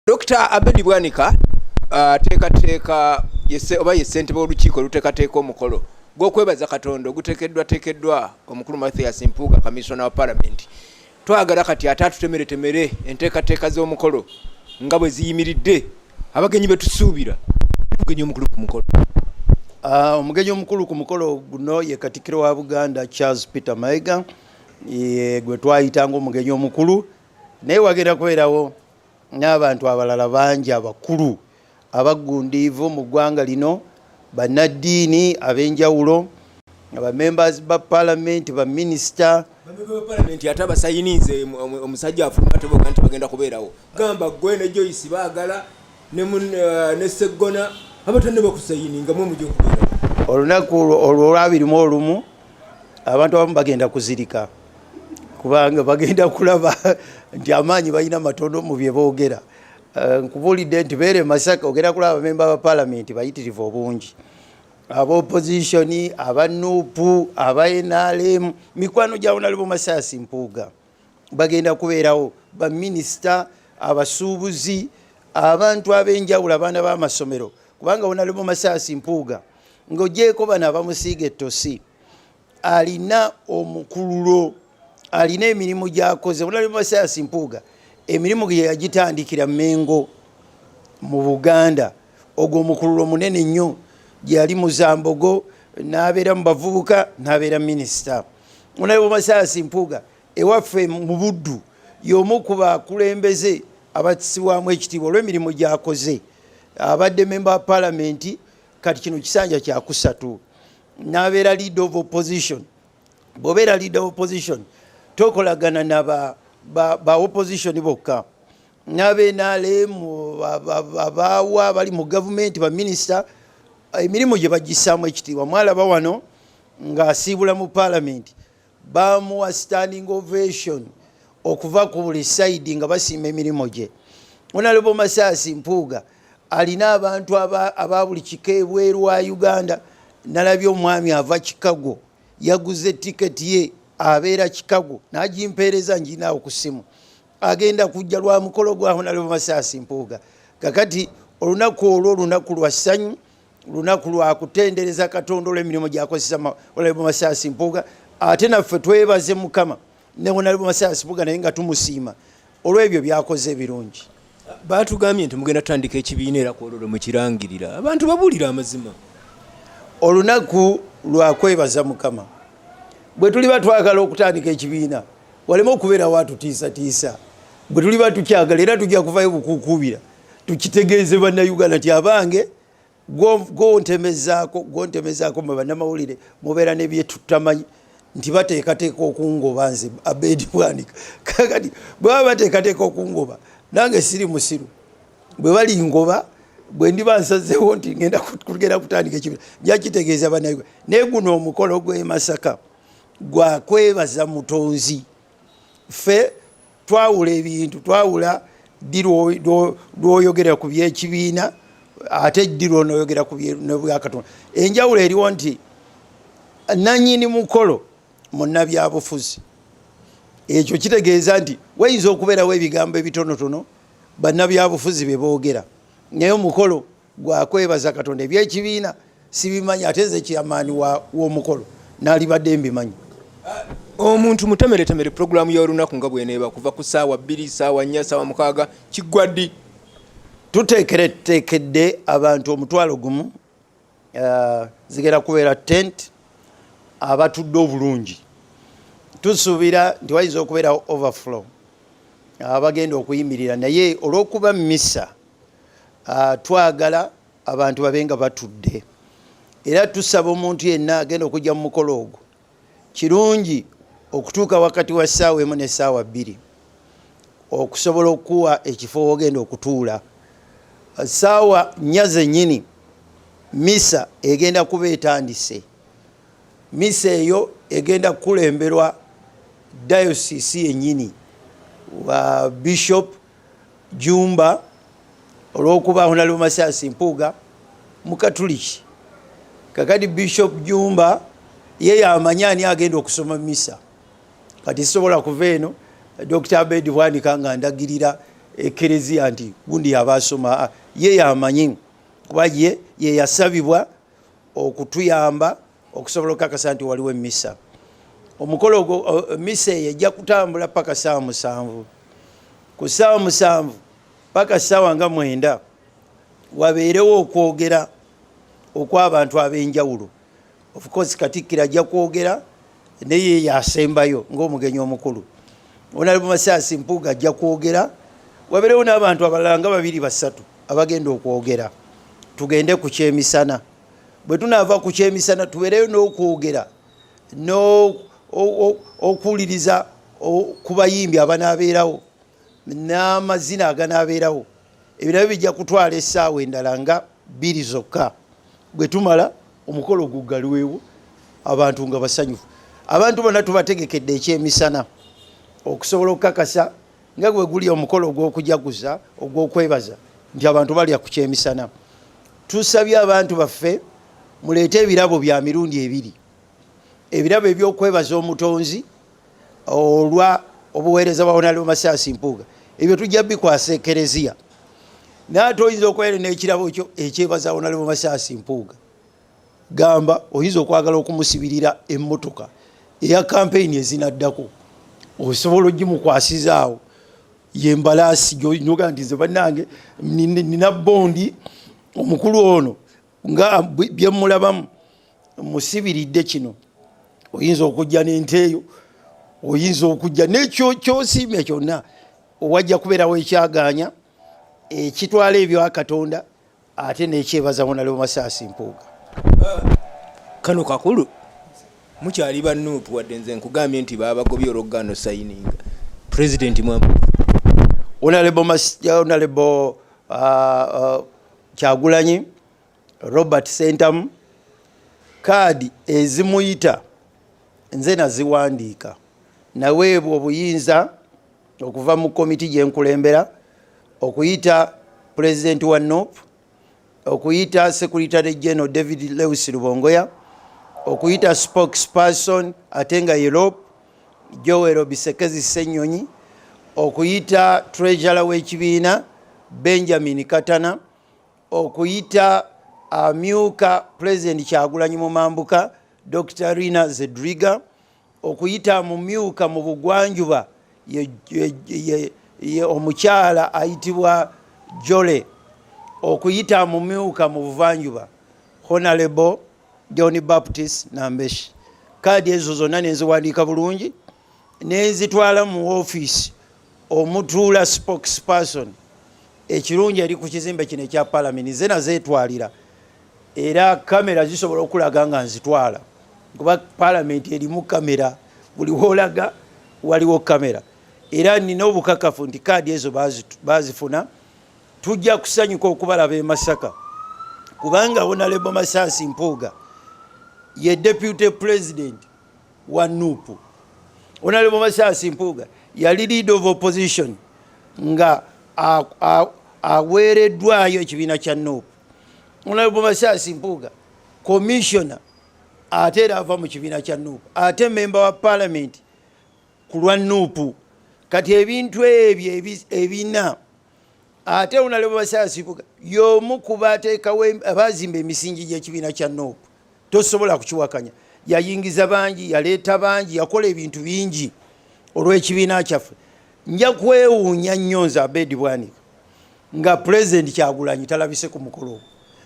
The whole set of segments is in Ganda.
Dokita Abedi Bwanika uh, ateekateeka oba ye ssentebe w'olukiiko oluteekateeka omukolo gw'okwebaza Katonda oguteekeddwateekeddwa omukulu Mathias Mpuuga kamiisona wa palamenti twagala kati ate atutemeretemere enteekateeka z'omukolo nga bwe ziyimiridde abagenyi betusuubira omugenyi omukulu ku mukolo ah, omugenyi omukulu ku mukolo guno ye katikiro wa buganda charles peter maega gwe twayitanga omugenyi omukulu naye wagenda kubeerawo n'abantu abalala bangi abakulu abaggundiivu mu ggwanga lino, bannaddiini ab'enjawulo, abamembers ba palamenti, baminisita palamenti ate abasayinize omusajja afuluma teboga nti bagenda kubeerawo gamba gwe ne joyce baagala ne eh, seggona abata ne bakusayininga mwe mujja okubeerawo olunaku olwolwabirimu olumu abantu abamu bagenda kuzirika kubanga bagenda kulaba nti amaanyi balina matono mu bye boogera Eh, nkubuulidde nti beere masaka ogenda kulaba abamemba ba palamenti bayitirivu obungi abaopozitioni aba nupu aba nrm mikwano gya onalebo masaasi mpuuga bagenda kubeerawo baminisita abasuubuzi abantu ab'enjawulo abaana b'amasomero kubanga onalebo masaasi mpuuga ng'ogyeko bano abamusiiga ettosi alina omukululo alina emirimu gyakoze bulalimasayasi mpuuga emirimu gye yagitandikira mengo mu buganda ogwo omukululo munene nnyo gyeyali muzambogo n'abeera mu bavubuka n'abeera minisita bulalimasayasi mpuuga ewaffe mu buddu y'omu ku bakulembeze abatisibwamu ekitiibwa olw'emirimu gyakoze abadde memba wa palamenti kati kino kisanja kyakusatu nabeera leader of opposition bwobeera leader of opposition tokolagana na ba, ba, ba opposition bokka nabenalem abaawa bali mu gavumenti baminisita emirimu gye bagisaamu ekitiibwa mwalaba wano ng'asiibula mu paalamenti bamuwa standing ovation okuva ku buli saidi nga basiima emirimu gye onalebo masaasi mpuuga alina abantu aba buli kika ebweru wa uganda nalabye omwami ava chicago yaguze tiketi ye abeera chicago nagimpeereza nginaawo ku simu agenda kujja lwa mukolo gwa honalebo masaasi mpuuga kakati olunaku olwo olunaku lwa ssanyu lunaku lwa kutendereza katonda olw'emirimu gyakozesa olaibu masaasi mpuuga ate naffe twebaze mukama newonalibu masaasi mpuuga naye nga tumusiima olw'ebyo byakoze ebirungi batugambye nti mugenda tutandika ekibiina era kwololo mukirangirira abantu babuulira amazima olunaku lwa kwebaza mukama bwe tuliba twagala okutandika ekibiina waleme okubeera watutiisatiisa bwe tuliba tukyagala era tujja kuvayo bukukuubira tukitegeeze bannayuganda nti abange gwontemezaako gwontemezaako mwe bannamawulire mubeera nebyetutamanyi nti bateekateeka okungoba nze abedi bwanika kakati bwebaba bateekateeka okungoba nange siri musiru bwe balingoba bwe ndiba nsazeewo nti ngenda kugenda kutandika ekibira nja kitegeeza bannayuga naye guno omukolo gw'emasaka gwakwebaza mutonzi ffe twawula ebintu twawula ddi lwoyogera ku byekibiina ate ddi lwonoyogera ku bwakatonda enjawulo eriwo nti nanyini mukolo munabyabufuzi ekyo kitegeeza nti wayinza okubeerawo ebigambo ebitonotono banabyabufuzi bebogera naye omukolo gwakwebaza katonda ebyekibiina sibimanyi ate nze kyamaani womukolo nalibadde mbimanyi omuntu mutemeretemere puroguramu yolunaku nga bweneeba kuva ku saawa bbiri saawa nnya saawa mukaaga kiggwa ddi tuteekereteekedde abantu omutwalo gumu eh, zigenda kubeera tent abatudde obulungi tusuubira nti wayinza okubeerawo overflow abagenda okuyimirira naye olw'okuba missa ah, twagala abantu babe nga batudde era tusaba omuntu yenna agenda okujja mu mukolo ogwo kirungi okutuuka wakati wa ssaawa emu ne ssaawa bbiri okusobola okukuwa ekifo wogenda okutuula ssaawa nnya zennyini misa egenda kuba etandise misa eyo egenda kukulemberwa dayosisi yennyini wa bishop Jumba olw'okuba Honalebo Masiasi Mpuuga Mukatuliki, kakati Bishop Jumba ye yamanya ani agenda okusoma misa. Kati sisobola kuva eno Dr. Abed Bwanika nga ndagirira ekereziya nti gundi yaba asoma, ah, ye yamanyi kuba ye yeyasabibwa okutuyamba okusobola okukakasa nti waliwo emisa omukolo ogwo misa eyo ejja kutambula paka saawa musanvu ku saawa musanvu paka saawa nga mwenda wabeerewo okwogera okwabantu ab'enjawulo ofcourse katikkiro ajja kwogera naye yasembayo ngaomugenyi omukulu onalimu masaasi mpuuga ajja kwogera wabeerewo n'abantu abalala nga babiri basatu abagenda okwogera tugende ku kyemisana bwe tunaava ku kyemisana tubeereyo n'okwogera n'okuwuliriza ku bayimbi abanaabeerawo n'amazina aganaabeerawo ebirabo bijja kutwala essaawa endala nga bbiri zokka bwe tumala omukolo guggalwewo abantu nga basanyufu abantu bona tubategekedde ekyemisana okusobola okukakasa nga bwe guli omukolo ogw'okujaguza ogw'okwebaza nti abantu balya ku kyemisana tusabye abantu baffe muleete ebirabo bya mirundi ebiri ebirabo ebyokwebaza omutonzi olwa obuweereza bwa onali omasaasi mpuuga ebyo tujja bikwasa ekereziya naye ate oyinza okubeera n'ekirabo kyo ekyebaza onali omasaasi mpuuga gamba oyinza okwagala okumusibirira emmotoka eya kampeyini ezinaddako osobola ogimukwasizaawo yembalaasi gyoga nti nze bannange nina bondi omukulu ono nga byemulabamu musibiridde kino oyinza okujja nente eyo oyinza okujja nekyo kyosiimya kyonna owajja kubeerawo ekyaganya ekitwala ebyo akatonda ate nekyebaza honalebo masaasi mpuuga kano kakulu mukyali ba nup wadde nze nkugambye nti babagobye olwokugaano sayininga president mwa honalebo honalebo uh, uh, kyagulanyi robert sentamu kaadi ezimuyita nze naziwandiika naweebwa obuyinza okuva mu komiti gye nkulembera okuyita pulezidenti wa nop okuyita secretary general david lewis lubongoya okuyita spokesperson ate nga europe joel bisekezi senyonyi okuyita treasurer w'ekibiina benjamin katana okuyita amyuka pulezidenti kyagulanyi mu mambuka dr rina zedriga okuyita mu myuka mu bugwanjuba ye omukyala ayitibwa jole okuyita mu myuka mu buvanjuba honalebo john baptist nambeshi kaadi ezo zonna nenziwandiika bulungi nenzitwala mu ofiisi omutuula spokesperson ekirungi eri ku kizimbe kino ekya palamenti ze nazeetwalira era kamera zisobola okulaga nga nzitwala kuba palamenti erimu kamera buli wolaga waliwo kamera era nina obukakafu nti kaadi ezo bazifuna tujja kusanyuka okubalaba e masaka kubanga wonalebo masaasi mpuuga ye deputy president wa nupu wonalebo masaasi mpuuga yali lead of opposition nga aweereddwayo ekibiina kya nupu Honorable Masasi Mpuuga commissioner ate era ava mu kibiina kya nuupu ate memba wa palamenti ku lwa nuupu kati ebintu ebyo ebina ate unalebo basaasibuga yomu kuba atekawo abazimba emisingi gyekibiina kya nuupu tosobola kukiwakanya yayingiza bangi yaleeta bangi yakola ebintu bingi olw'ekibiina kyaffe nja kwewuunya nnyo nze abedi bwanika nga pulezidenti kyagulanyi talabise ku mukolo ogwo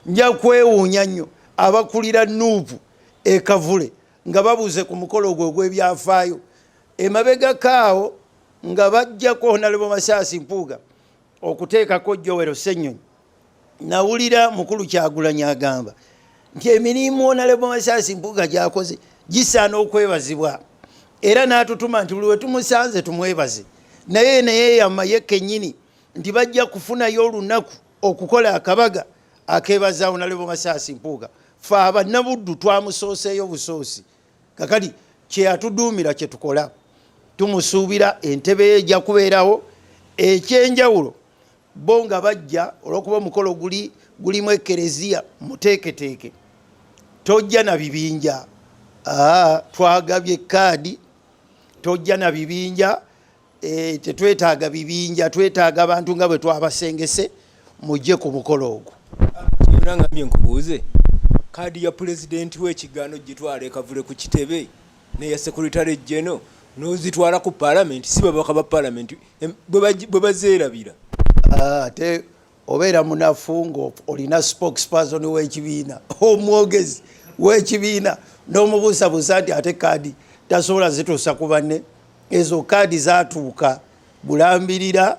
nja kwewuunya nnyo abakulira nuupu ekavule nga babuze ku mukolo ogwo ogw'ebyafaayo emabegakaawo nga bajjako nalebo masaasi mpuuga okuteekako Joel Ssenyonyi nawulira mukulu Kyagulanyi agamba nti emirimu Honorable Masaasi Mpuuga gyakoze gisaana okwebazibwa era n'atutuma nti buli wetumusanze tumwebaze naye neyeyama ye kennyini nti bajja kufunayo olunaku okukola akabaga akebaza Honorable Masaasi Mpuuga fe abanabuddu twamusooseeyo busoosi kakati kyeyatuduumira kyetukola tumusuubira entebe ye ejja kubeerawo ekyenjawulo bo nga bajja olwokuba omukolo guli gulimu ekereziya muteeketeeke tojja na bibinja twagabye kaadi tojja na bibinja Eh, tetwetaaga bibinja twetaaga abantu nga bwe twabasengese mujje ku mukolo ogwo nangambye nkubuuze kaadi ya pulezidenti w'ekigaano gitwala ekavule ku kitebe neya sekuritale jeno nozitwala ku palamenti si babaka ba palamenti bwe bazeerabira ah, ate obeera munafu ng'olina spokesperson w'ekibiina omwogezi w'ekibiina n'omubuusabuusa nti ate kaadi tasobola zituusa ku banne ezo kaadi zatuuka bulambirira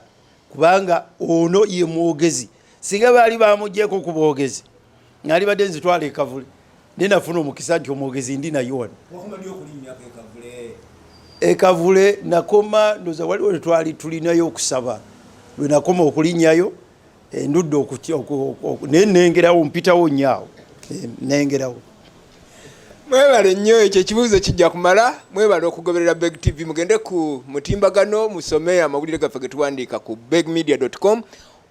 kubanga ono ye mwogezi singa baali bamugyeko ku bwogezi nalibadde nzitwala ekavule naye nafuna omukisa nti omwogezi ndi naye wano ekavule nakoma ndoza waliwo netwali tulinayo okusaba lwenakoma okulinyayo endudde naye nengerawo mpitawo nyaawo eh, nengerawo mwebale nnyo ekyo ekibuuzo kijja kumala mwebale okugoberera beg tv mugende ku mutimbagano musome amawulire gaffe getuwandiika ku begmedia com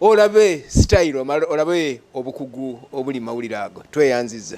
olabe style olabe obukugu obuli mawulire ago tweyanziza